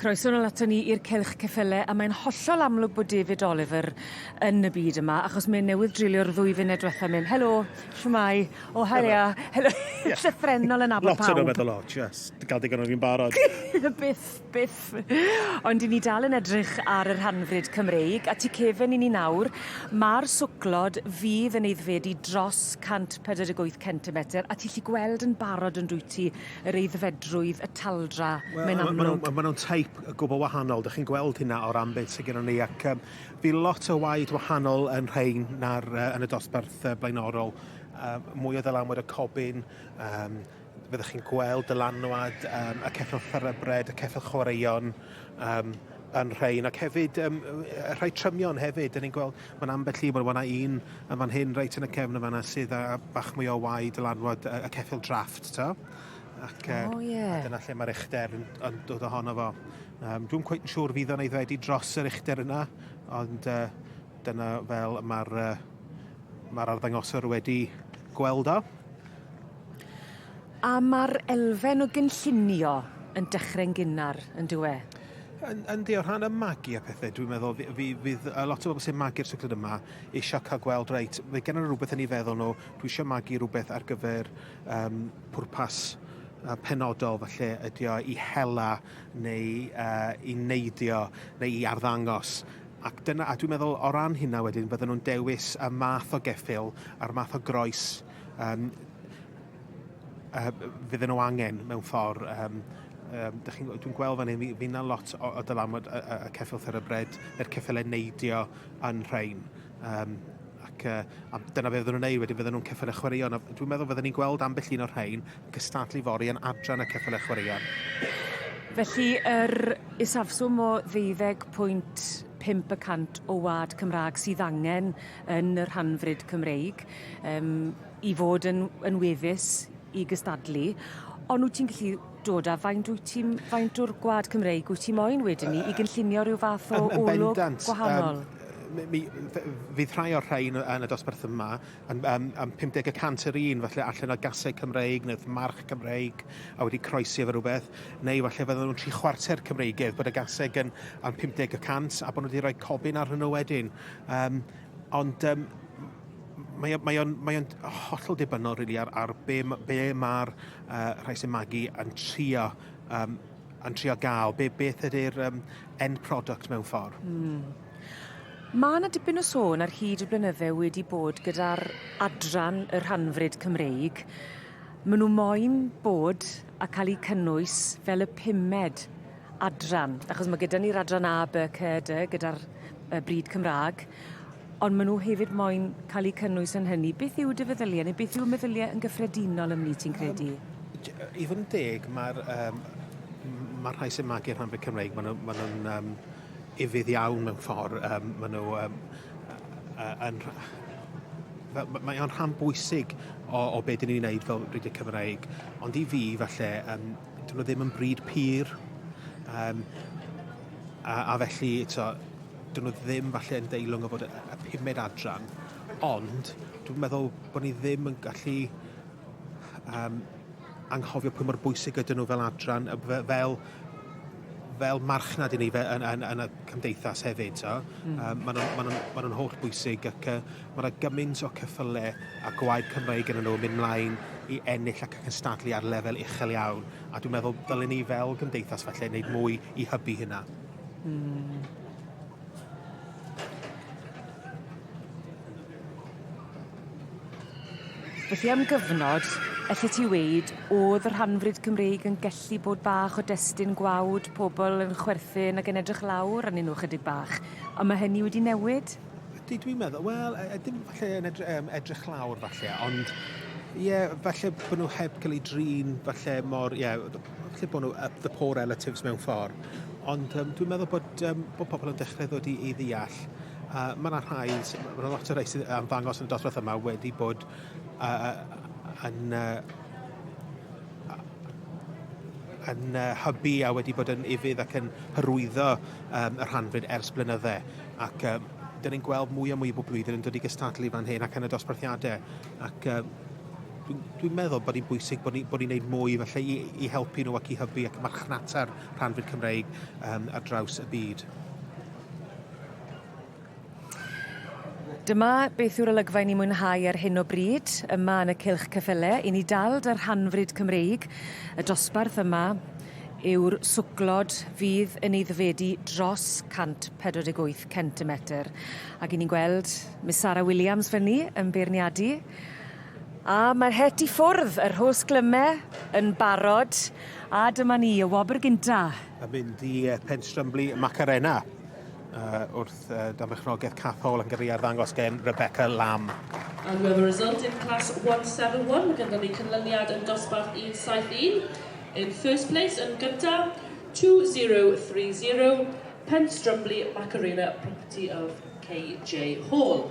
Croeso nol ato ni i'r Cylch Ceffyle a mae'n hollol amlwg bod David Oliver yn y byd yma achos mae newydd dreulio'r ddwy funud diwetha mynd helo, shwmae, o haia, helo, llythrennol yn nabod pawb. Lot o rhywbeth o lot, yes, dy gael digon o fi'n barod. byth, byth. Ond i ni dal yn edrych ar y rhanfryd Cymreig, a tu cefen i ni nawr, mae'r swclod fydd yn eiddfedu dros 148 centimetr a ti lli gweld yn barod yn dwyt ti, yr aeddfedrwydd, y taldra, mae'n amlwg. Wel, maen nhw'n teip gwbl wahanol, dych chi'n gweld hynna o'r ambyd sydd gennym ni, ac um, fi lot o waed wahanol yn rhain na'r, uh, yn y dosbarth uh, blaenorol. Uh, mwy o ddylanwad y cobyn, um, fyddwch chi'n gweld dylanwad um, y ceffyl ffyrybred, y ceffyl chwaraeon, um, yn rhain, ac hefyd um, rhai trymion hefyd, dyn ni'n gweld Mae'n ambell i, wel mae yna un yn fan hyn reit yn y cefn yn fanna sydd â bach mwy o waed dylanwad y, y ceffyl drafft, ta? Ac, uh, oh, yeah. a dyna lle mae'r uchder yn, yn dod ohono fo. Um, Dwi'n cweith yn siŵr fydd o'n eiddfedu dros yr uchder yna, ond uh, dyna fel mae'r uh, mae arddangoswr wedi gweld o. A mae'r elfen o gynllunio yn dechrau'n gynnar, yn dywe? Yn, yn di, o rhan y magu a pethau, dwi'n meddwl, fi, fi, fydd a lot o bobl sy'n magu'r cycled yma eisiau cael gweld, reit, fe gen nhw rhywbeth yn ei feddwl nhw, dwi eisiau magu rhywbeth ar gyfer um, pwrpas uh, penodol, falle ydy o i hela neu uh, i neidio neu i arddangos. Ac dyna, a dwi'n meddwl o ran hynna wedyn, bydden nhw'n dewis y math o geffil a'r math o groes um, uh, fydden nhw angen mewn ffordd. Um, um, dwi'n gweld fan hyn, fi na lot o, o dylanwad y, y, y ceffyl therybryd, yr ceffylau neidio yn rhain. Um, ac uh, a dyna fe fydden nhw'n ei, wedyn fydden nhw'n ceffylau chwaraeon. Dwi'n meddwl fydden ni'n gweld ambell un o'r rhain yn cystadlu fori yn adran y ceffylau chwaraeon. Felly, yr er isafswm o ddeuddeg pwynt 5 y cant o wad Cymraeg sydd angen yn yr hanfryd Cymreig. Um, i fod yn yn weddus i gystadlu ond wyt ti'n gallu dod â faint wyt ti'n faint o'r gwlad Cymreig wyt ti'n moyn wedyn ni i gynllunio rhyw fath o olwg gwahanol? Um, mi, fydd rhai o'r rhain yn y dosbarth yma yn, um, um, 50 y cant yr un, falle allan o gasau Cymreig neu march Cymreig a wedi croesi efo rhywbeth, neu falle fydden nhw'n tri chwarter Cymreigedd bod y gasau yn, yn 50 y cant a bod nhw wedi rhoi cofyn ar hwnnw wedyn. Um, ond um, mae o'n mae mae o'n hollol debynol really, ar, ar be, be mae'r uh, rhai sy'n magu yn trio um, yn trio gael, be, beth ydy'r um, end product mewn ffordd. Mm. Mae yna dipyn o sôn ar hyd y blynydde wedi bod gyda'r adran y rhanfryd Cymreig. Maen nhw moyn bod a cael eu cynnwys fel y pumed adran, achos mae gyda ni'r adran A, B, C, D, gyda'r bryd Cymraeg, Ond maen nhw hefyd moyn cael eu cynnwys yn hynny. Beth yw dy feddyliau neu beth yw meddyliau yn gyffredinol ymni ti'n credu? Um, I fod yn deg, mae'r um, mae rhai sy'n magu'r rhan fyd Cymreig, maen nhw'n ma nhw, ma um, ifydd iawn mewn ffordd. Um, maen nhw um, yn, mae o'n rhan bwysig o, o beth dyn ni'n gwneud fel Brigid Cymreig. Ond i fi, falle, um, dyn nhw ddim yn bryd pyr. Um, a, a felly, to, 'dyn nhw ddim falle yn deilwng o fod y, y pumed adran, ond dwi'n meddwl bod ni ddim yn gallu um, anghofio pwy mor bwysig ydyn nhw fel adran, fel fel marchnad i ni fe, yn, yn, yn y cymdeithas hefyd. So. Mm. Um, Maen nhw'n ma nhw, ma nhw holl bwysig ac uh, mae yna gymaint o cyffyle a gwaed Cymraeg yn nhw mynd mlaen i ennill ac yn cystadlu ar lefel uchel iawn. A dwi'n meddwl dylai ni fel cymdeithas felly wneud mwy i hybu hynna. Hmm. Felly am gyfnod, elli ti weud, oedd y rhanfryd Cymreig yn gellu bod bach o destun gwawd, pobl yn chwerthin ac yn edrych lawr arnyn nhw chydig bach, ond mae hynny wedi newid? Ydy, dwi'n meddwl, wel, e, e, dim falle yn edrych, um, edrych lawr falle, ond ie, yeah, falle bod nhw heb cael ei drin, falle mor, ie, yeah, lle bod nhw up the poor relatives mewn ffordd. Ond um, dwi'n meddwl bod, um, bod pobl yn dechrau ddod i, i ddeall. A mae yna rhai, mae yna lot o rhai sydd am ddangos yn y dosbarth yma wedi bod uh, yn uh, yn uh, hybu a wedi bod yn ifydd ac yn hyrwyddo um, y rhanfryd ers blynyddau. Ac um, dyn ni'n gweld mwy a mwy o bob blwyddyn yn dod i gystadlu fan hyn ac yn y dosbarthiadau. Ac um, Dwi'n dwi meddwl bod hi'n bwysig bod ni'n ni, ni wneud mwy felly i, i helpu nhw ac i hybu ac marchnata'r rhan fyd Cymreig um, ar draws y byd. Dyma beth yw'r olygfa i ni mwynhau ar hyn o bryd, yma yn y cilch cyffele. I ni dal dy rhanfryd Cymreig, y dosbarth yma yw'r swclod fydd yn eiddfedu dros 148 centimetr. Ac i ni'n gweld Miss Sarah Williams fyny yn beirniadu. A mae'r het i ffwrdd, y rhos glyme yn barod, a dyma ni, y wobr gynta. Yn mynd i Penstrymbli Macarena uh, wrth uh, damrechnogaeth Cath Hall yn gyrru i arddangos gen Rebecca Lamb. And we have a result in class 171. Mae gyda ni cynlyniad yn dosbarth 171. In first place yn gyntaf, 2030, Penstrymbli Macarena, property of KJ Hall.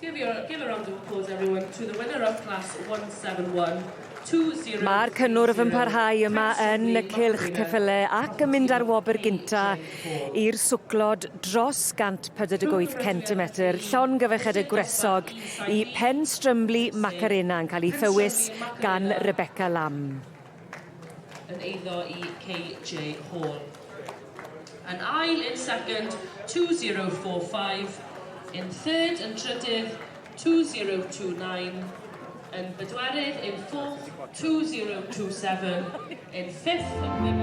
Give, your, give a round of applause everyone to the winner of class 171. Mae'r cynnwrf yn parhau yma yn y cylch ceffyle ac yn mynd ar wobr gynta i'r swclod dros 148 cm. Llon gyfeched y gwresog i Pen Strymli Macarena yn cael ei thywys gan Rebecca Lamb. yn eiddo i KJ Hall. Yn ail yn second, 2045. Yn third yn trydydd, 2029. Yn bedwerydd yn fourth, 2027. Yn fifth yn...